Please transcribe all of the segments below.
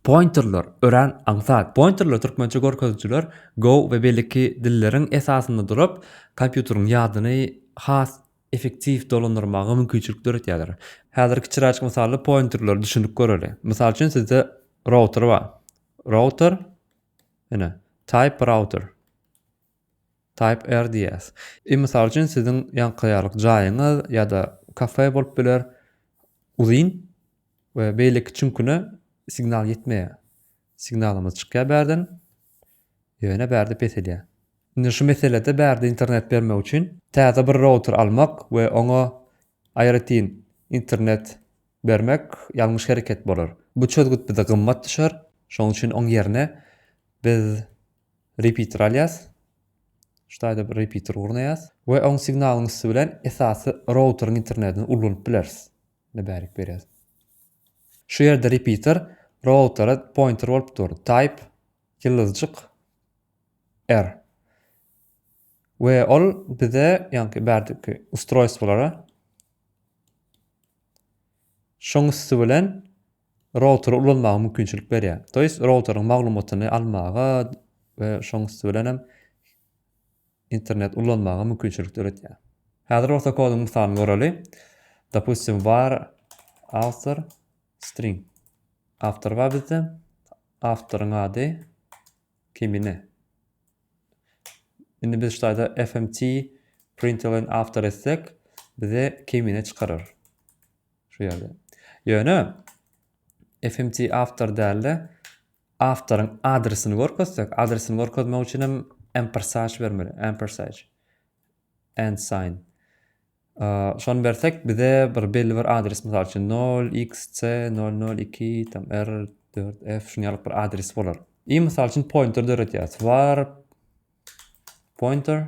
Pointerler, örän aňsat. Pointerler, türkmençe görkezijiler, Go we beýleki dilleriň esasynda durup, kompýuteriň ýadyny has effektiw dolandyrmaga mümkinçilik döretýärler. Häzir kiçiräjik mysally pointerleri düşünip göreli. Mysal üçin, sizde router bar. Router, ine, Type router. Type RDS. I. Mysal üçin, siziň ýankaýarlyk jaýyňyz ýa-da kafe bolup biler. Uzyn we beýleki çüňküne signal ýetmeýär. Signalymyz çykýar bärden, ýöne bärde peselýär. Indi şu meselede bärde internet bermek üçin täze bir router almak we oňa aýratyn internet bermek ýalňyş hereket bolar. Bu çözgüt bize gymmat düşer. Şonuň üçin oň ýerine biz Repeater alýas. Şu taýda bir repeater gurnaýas we oň signalyň üsti bilen esasy routeriň internetini ulanyp bileris. Indi bärik berýäs. Şu ýerde repeater routera pointer bolup dur. Type ýyldyzjyk R. We ol bize, ýagny bärdiki ustroýstwolara şoň üsti bilen routery ulanmaga mümkinçilik berýär. To jest routeryň maglumatyny almaga we şoň üsti bilen hem internet ulanmaga mümkinçilik döretýär. Häzir bolsa koduň mysalyny göreli. Dopustim var author string. Awtor bar bizde. Awtoryň ady kimine. Indi biz ştaýda fmt println awtor etsek bize kimine çykarar. Şu ýerde. Ýöne fmt awtor dälde awtoryň adresini görkezsek, adresini görkezmek üçin hem ampersage bermeli. Ampersage and sign. Şony bersek bize bir belli bir adres mysal üçin 0xc 002 tam r4f şuny alyp bir adres bolar. I mysal üçin pointer döretýäs. Var pointer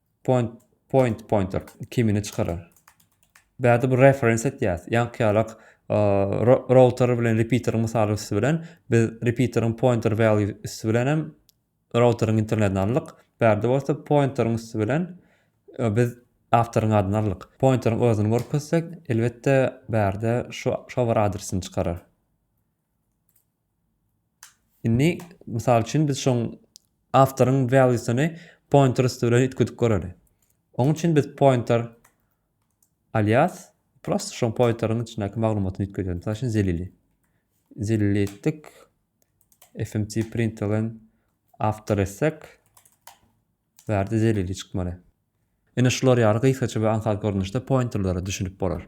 Point, point, pointer kimini çykarar. Bärde bir reference etýäs. Ýaňky ýalak router bilen repeater mysaly üstü bilen biz repeaterin pointer value üstü bilen hem routerin internetini aldyk. Bärde bolsa pointerin üstü bilen e, biz avtoryň adyny aldyk. Pointerin özüni görkezsek, elbetde bärde şu şu adresini çykarar. Indi, mysal üçin, biz şoň awtoryň value-syny pointer üsti bilen üýtgedip göreli. Oň üçin biz pointer alias prosto şoň pointeriň içindäki maglumatyny üýtgedeli. Mysal üçin, zelili. Zelili etdik. fmt println awtor etsek, bu ýerde zelili çykmaly. Ine şular ýaly gysgaça we aňsat görnüşde pointerlere düşünip bolar.